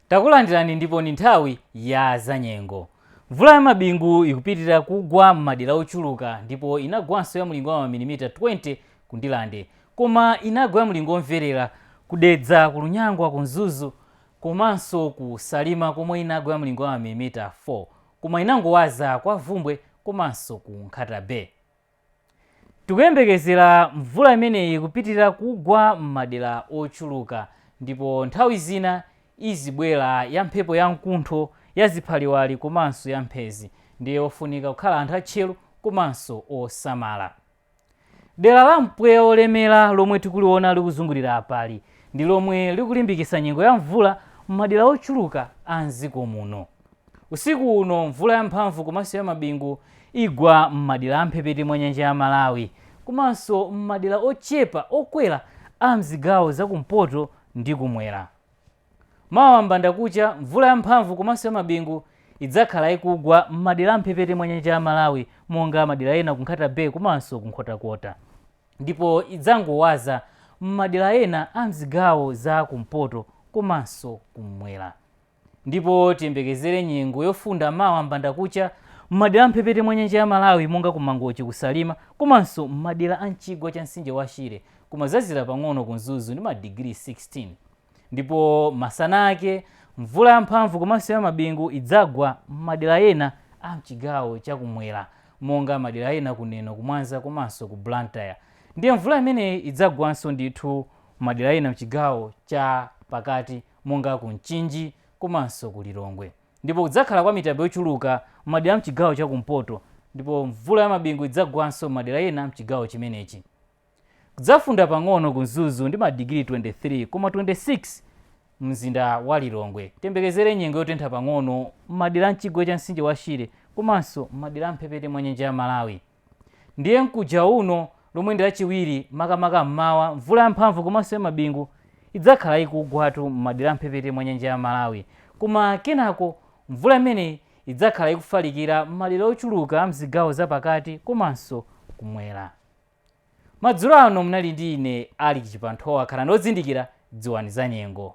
takulandirani ndipo ndi nthawi ya zanyengo mvula ya mabingu ikupitirira kugwa m'madera ochuluka ndipo inagwanso ya mlingo wa mamilimita 20 ku ndilande koma inagwa ya mlingo womverera kudedza ku lunyangwa ku mzuzu komanso ku salima komwe inagwa ya mlingo wa mamilimita 4 koma inangowaza kwa vumbwe komanso ku nkhata bay Tikuyembekezera mvula imeneyi kupitilira kugwa m'madera ochuluka ndipo nthawi zina izibwera ya mphepo ya mkuntho, ya ziphaliwali komanso ya mphezi ndiye ofunika kukhala anthu atcheru komanso osamala. Dera la mpweya wolemera lomwe tikuliona likuzungulira apali, ndi lomwe likulimbikitsa nyengo ya mvula m'madera ochuluka a m'dziko muno. Usiku uno mvula ya mphamvu komanso ya mabingu igwa m'madera a m'mphepete mwa nyanja ya Malawi komanso m'madera ochepa okwera a m'zigawo za kumpoto ndi kumwera. Mawa m'bandakucha mvula ya mphamvu komanso ya mabingu idzakhala ikugwa m'madera a m'mphepete mwa nyanja ya Malawi monga madera ena ku Nkhata Bay komanso ku Nkhotakota ndipo idzangowaza m'madera ena a m'zigawo za kumpoto komanso kumwera. ndipo tiyembekezere nyengo yofunda mawa m'bandakucha m'madera a m'mphepete mwa nyanja ya Malawi monga ku Mangochi, ku Salima komanso m'madera a m'chigwa cha mtsinje wa Shire koma kudzazizira pang'ono ku Mzuzu ndi madigiri 16 ndipo masana ake mvula yamphamvu komanso ya mabingu idzagwa m'madera ena a m'chigawo cha kumwera monga madera ena ku Neno, ku Mwanza komanso ku Blantyre ndiye mvula imeneyi idzagwanso ndithu m'madera ena m'chigawo cha pakati. monga ku Mchinji komanso ku Lilongwe ndipo kudzakhala kwa mitambo yochuluka m'madera a m'chigawo cha kumpoto ndipo mvula ya mabingu idzagwanso m'madera ena a m'chigawo chimenechi. Kudzafunda pang'ono ku Mzuzu ndi madigiri 23 koma 26 mumzinda wa Lilongwe. Tiyembekezere nyengo yotentha pang'ono m'madera a m'chigwa cha mtsinje wa Shire komanso m'madera a m'mphepete mwa nyanja ya Malawi. Ndiye mkuja uno, lomwe ndi Lachiwiri, makamaka mmawa, mvula yamphamvu komanso yamabingu idzakhala ikugwatu m'madera a m'mphepete mwa nyanja ya Malawi. Koma kenako mvula imeneyi idzakhala ikufalikira m'madera ochuluka a m'zigawo za pakati komanso kumwera. Madzulo ano munali ndi ine Alick Chipanthowa. Khalani odzindikira, dziwani zanyengo.